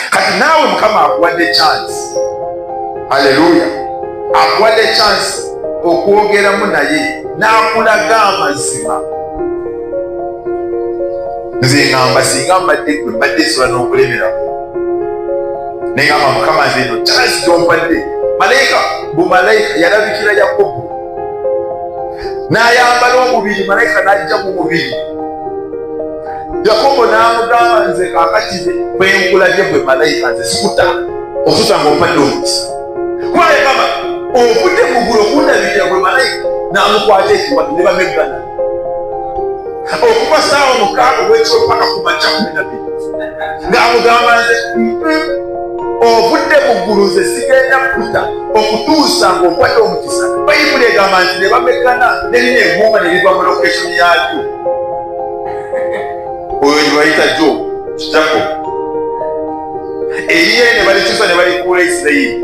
kati naawe mukama akuwadde chance aleluya akuwadde chance okwogeramu naye n'akulaga amazima nze ngamba singa mbadde gwe mbadde esola n'okulemeramu naye ngamba mukama nze eno chance gyompadde malayika bumalayika yalabikira yakobo n'ayambala omubiri malayika n'ajja mu mubiri yakobo n'amugamba nze kakati bwenkulabye gwe malayika nze sikuta osusa ngaopadde omukisa kuba yagamba okudde mugulu okundabirira gwe malayika n'amukwata ekiwatu ne bameggana okuba saawa mukaaga wekyompaka ku makya kumi na biri ng'amugamba nze ovudde mu ggulu nze sigenda kuta okutuusa ng'okwata omukisa bayibuli egamba nti ne bamekana nerina eguuma ne liva mu lokeshoni yalyo oyo gyebayita jo kitako eriye ne balikyusa ne balikuula isirayiri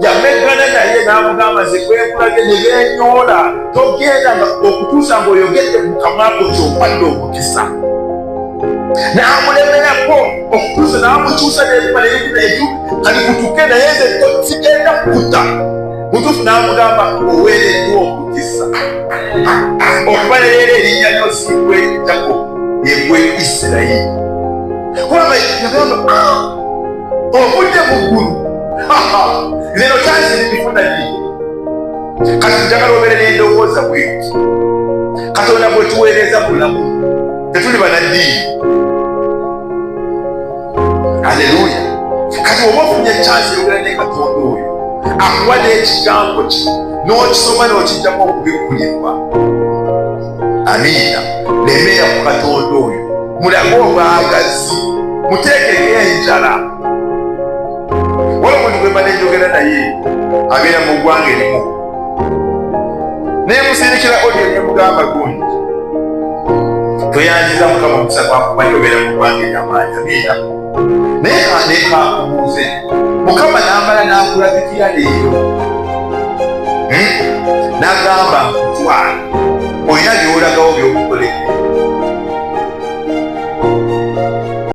yamegana naye n'amugamba nze kwekulabye ne benyoola togenda nga okutuusa ng'oyogedde mu kamwa ko kyokwadde omukisa n'amulemerako okutuusa n'amukyusa nebimala ebintu kali kutuke naye nze sigenda kukuta mutuufu n'amugamba oweereddwa omukisa okuba leero erinnya lyosiibwa eritako egwe isirayiri kubanga yagamba ah, ovudde mu ggulu lero kyaziri bifuna nyi kati njagala obeere n'endowooza bweti katonda bwetuweereza bulamu tetuli banaddiini aleluya kati oba ofunye ekyansi eyogera ne katonda oyo akuwa n'ekigambo ki n'okisoma n'okijjamu okubikkulirwa amiina lemeera ku katonda oyo mulage obwagazi muteekeko enjala wala omuntu gwemala enjogera naye abeera mu ggwanga erimu naye musindikira odio nemugamba gundi tweyanziza mukama omukisa gwakumanyi obeera mu ggwanga eryamaanyi amiina naye kanekakubuuze mukama namala nakulabikira leero hmm? nagamba nkutwala olina byolagawo byokukolera